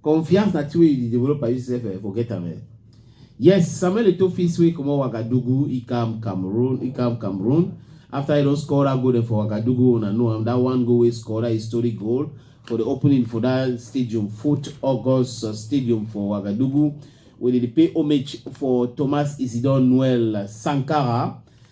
Confiance na thing wey you dey develop as you sef eh, forget am eh. Yes, Samuel Eto'o fit sway comot Wagadugu, e come Cameroon, e come Cameroon after e don score that goal dem for Wagadugu, una know am, that one goal wey e score, that historic goal for the opening for that stadium, Fort August Stadium for Wagadugu, wey dey dey pay homage for Thomas Isidore Noel Sankara.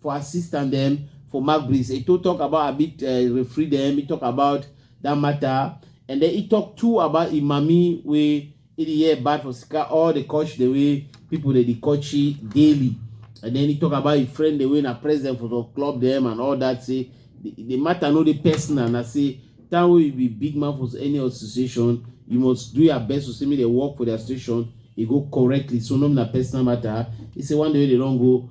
for assistant them for Mark Breeze. He to talk about a bit uh, referee them. He talk about that matter, and then he talk too about Imami where it is bad for Sika all the coach the way people that they coach daily, and then he talk about his friend the way na president for the club them and all that. Say the, the matter no the person and I say that way you be big man for any association. You must do your best to see me they work for the association. He go correctly. So no na personal matter. He say one day they don't go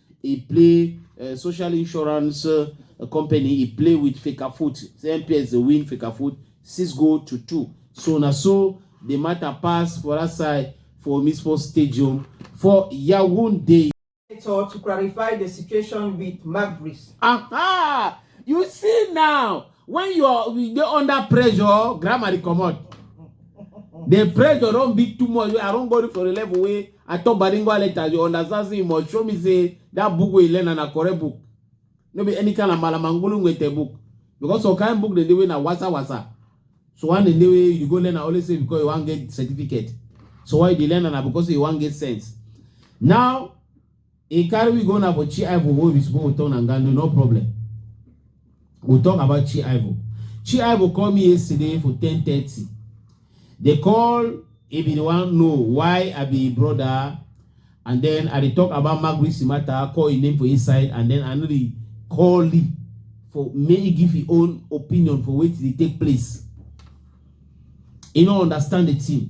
e play uh, social insurance uh, company e play with fecafoot say mps dey win fecafoot six goal to two so na so the matter pass for that side for omispo stadium for yaounde. so to clarify the situation with magris. aha you see now When you are you dey under pressure, grammar dey comot. The pressure don be too much. I don go for a level wey I talk bilingual letter. You understand? Say you must show me say that book wey you learn na correct book. No be any kind of malamangulu ngete book. Because some kind book dem dey wey na wasa wasa. So one dem dey wey you go learn na only say because you wan get certificate. So why you dey learn na because you wan get sense. Now He carry we go na for chi ivo wey we suppose talk na ngando no problem we talk about chi ivo chi ivo call me yesterday for ten thirty they call he be the one know why i be brother and then i dey talk about magrisi matter call him name for inside and then i no dey call lee for make he give him own opinion for wetin dey take place he no understand the thing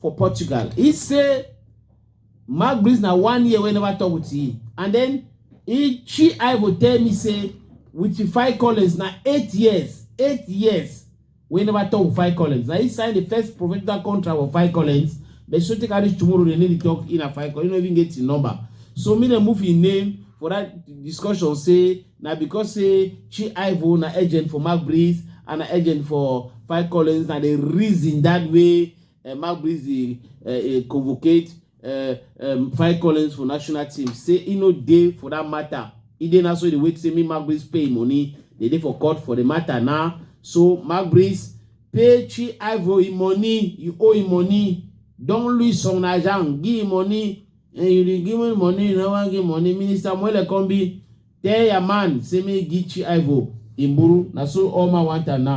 for Portugal. He say Mark Breeze na one year wey never talk with him and then he she Ivo tell me say with the five Collins na eight years eight years wey never talk with five Collins. Na he sign the first professional contract for five Collins but so take reach tomorrow they need to talk in a five Collins. He no even get him number. So me dem move him name for that discussion say na because say Chi Ivo na agent for Mark Breeze and na agent for Five Collins na the reason that way uh, Mark Breezy uh, uh, convocate uh, um, Five Collins for national team. Say he no day for that matter. He didn't also the wait say me Mark Breeze pay money. They did for court for the matter now. So Mark Breeze pay Chi Ivory money. You owe him money. Don't lose some Najan. Give him money. And you dey give him money. You no wan give money. Minister Mwele Kombi tell your man say me give Chi Ivory. Imburu. Na so all man want now.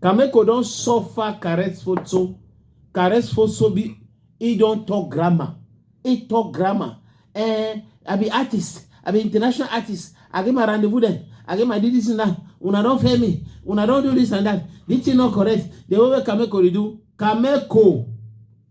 Kameko don suffer caress photo, caress photo be he don talk grammar, he talk grammar. Eh, I be artist, I be international artist, I get my rendezvous then, I get my do this and that. Una don fail me, una don do this and that. This thing not correct. The way Kameko dey do, Kameko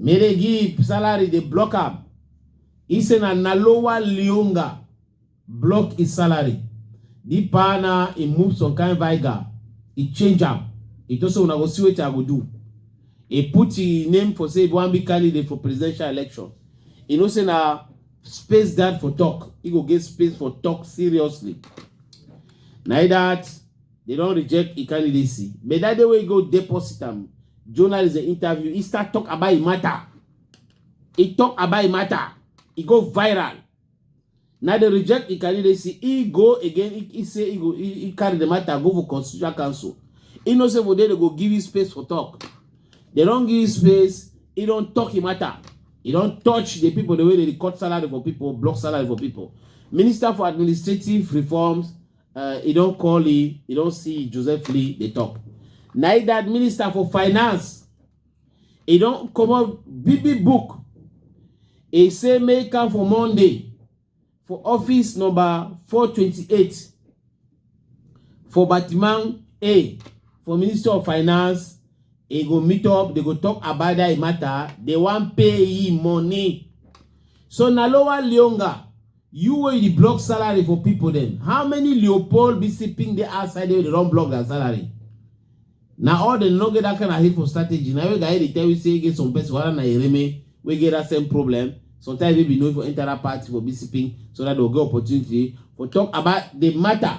Melegip salary dey block am. He say na Nalowa Lionga block his salary. The partner he move some kind viga, he change am. He just say una go see wetin I go do. He put him name for say he wan be candidate for presidential election. He know say na space guard for talk. He go get space for talk seriously. Na that They don reject e candidacy. But that day wey go deposit am, journalist dey interview, he start talk about e matter. He talk about e matter. E go viral. Now they reject e candidacy. He go again. He, he say he go. He, he carry the matter go for constitutional council. He know say for there they go give him space for talk. They don give him space. He don talk e matter. He don touch the people the way they dey cut salary for people, block salary for people. Minister for Administrative Reforms uh, he don call he he don see joseph lee dey talk na he that minister for finance he don comot big big book he say make am for monday for office number 428 for batiman a for minister of finance he go meet up they go talk about that matter they wan pay him money so na lower leonga You wey you dey block salary for people dem, how many leopold be sipping dey outside there wey dey don block their salary? Na all dem no get that kind of hateful strategy na wey guy dey tell you say e get some person whether na Ereme wey get that same problem sometimes maybe no for enter that party for be sipping so that they go get opportunity for talk about the matter.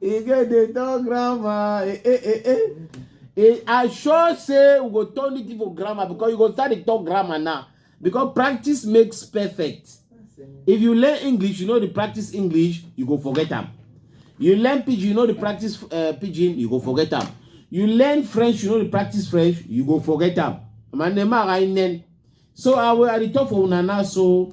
e get the talk grammar eh eh eh eh eh i sure say we go turn the thing for grammar because you go start the talk grammar now because practice makes perfect if you learn english you know the practice english you go forget am you learn pidgin you know the practice uh, pidgin you go forget am you learn french you know the practice french you go forget am manema rainen so i will i dey talk for una now so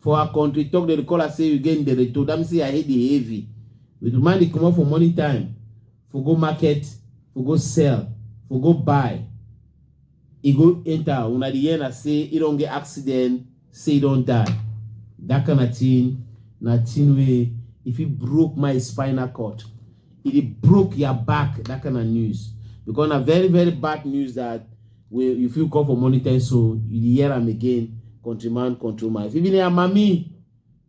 For our country talk dem dey call am say you get ndereto, that means say your head dey heavy. If the man dey comot for morning time for go market for go sell for go buy, e go enter una dey hear na say e don get accident say e don die. That kind of thing na thing wey e fit broke my spinal cord, e dey broke your back that kind of news because na very very bad news that Wey you fit call for money ten so you dey hear am again countryman control my even your mami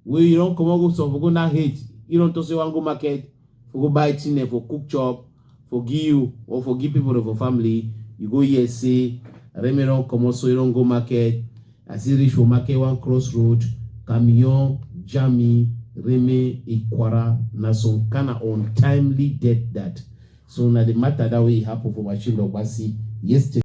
wey you don comot go some for go na hate you don talk say wan go market for go buy thing for cook chop for give you or for give people for family you go hear say remi don comot so you don go market as he reach for market one cross road camion jam me remi ikwara na some kind of untimely death that so na the matter that way e happen for machine ogbasi yesterday.